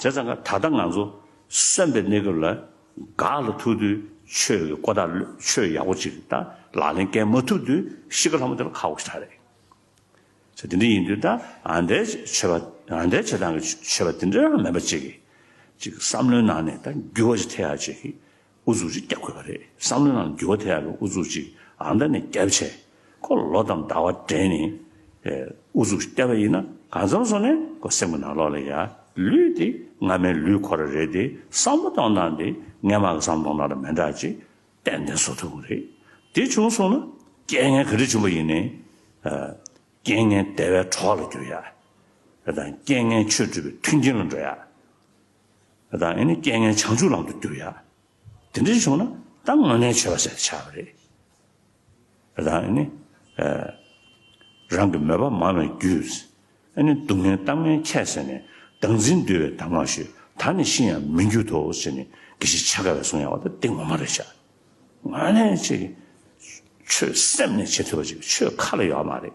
དེ་ཙམ་ཀ་ད་ལྟ་ང་ཚོ་སེམས་པའི་གནས་སྐབས་ལ་དགའ་ལ་ཐུག་དུས་ཆོས་ཀྱི་བཀོད་ལྟ་ཆོས་ཡག་པོ་ཅིག་ད་ལག་ལེན་སྐྱེལ་མ་ཐུབ་དུས་གཤིས་ཀ་ལྷ་མོ་དེ་ལ་ཁག་པོ་ཞིག་ད་རེད། ཚེ་འདི་འདྲ་ཡིན་དུས་ད་ང་འདྲའི་ཆོས་པ་ང་འདྲའི་བྱེད་སྟངས་ཀྱི་ཆོས་པ་དེ་འདྲའང་མེད་པ་ཅིག་གི་ཅིག་བསམ་བློའི་ནང་ནས་ད་འགྱུར་བ་ཞིག་ཐེབས་ཡག་ཅིག་གི་ཨུ་ཚུགས་ཀྱིས་བསྐྱབས་དགོས་པ་རེད་བསམ་བློའི་ནང་ལ་འགྱུར་བ་ཐེབས་ཡག་པའི་ཨུ་ཚུགས་ཅིག་རང་དགྲ་ནས་བསྐྱབས་བྱས་ཁོ་ལ་ལོ་དང་ཟླ་བ་དྲན་ནས་ཨུ་ཚུགས་ཤིག་བསྐྱབས་པ་ཡིན་ན་གང་འཚམ་སོང་ནས་ཁོ་སེམས་ཀྱི་ནང་ལོག་ལ་ཡ་ལུས་དེ་སྔ་མའི་ལུས་ཁོ་ར་རེད་དེ་བསམ་བློ་གཏོང་སྟངས་དེ་སྔས་མ་གི་བསམ་བློ་གཏོང་སྟངས་ལ་མི་འདྲ་ཅེས་ཏན་ཏན་བཟོ་ཐུབ་དགོས་རེད་དེ་བྱུང་སོང་ན་རྐྱེན་ངན་ག་རེ་བྱུང་བ་ཡིན་ནའི་རྐྱེན་ངན་དལ་བའི་གྲོགས་ལ་གྱུར་ཡག་དང་རྐྱེན་ངན་ཆོས་སྒྲུབ་པའི་མཐུན་རྐྱེན་ལ་འགྲོ་ཡག། ད་ངས་ནི་རྐྱེན་ངན་བྱང་ཆུབ་ལམ་དུ་འགྱུར་ཡ། དེ་འདྲ་བྱུང་ན་ད་ང་ངན་བྱས་པ་བྱས་ཏེ་ཆགས་པ་རེད། ད་ནི་རང་གི་མོས་པ་མང་བའི་རྒྱུས། ཨ་ནི་སྡུག་བསྔལ་གཏམ་ངན་ཁྱད་བསད་ནས་བདག་འཛིན་འདུལ་བའི་དམ་ངག་ཞུས་ད་ནི་ཤི་ཡང་མི་འགྱུར་ཏོ་ཞེས་ནི་དགེ་བཤེས་ཆ་ག་བས་གསུངས་ཡ་བ་ད་འདི་ངོ་མ་རེད་བྱ། ང་ལས་ཆེ་གི། ཆོས་སེམས་ནས་བྱེད་ཐུབ་པ་ཅིག་ཆོས་ཁ་ལ་ཡོད་མ་རེད།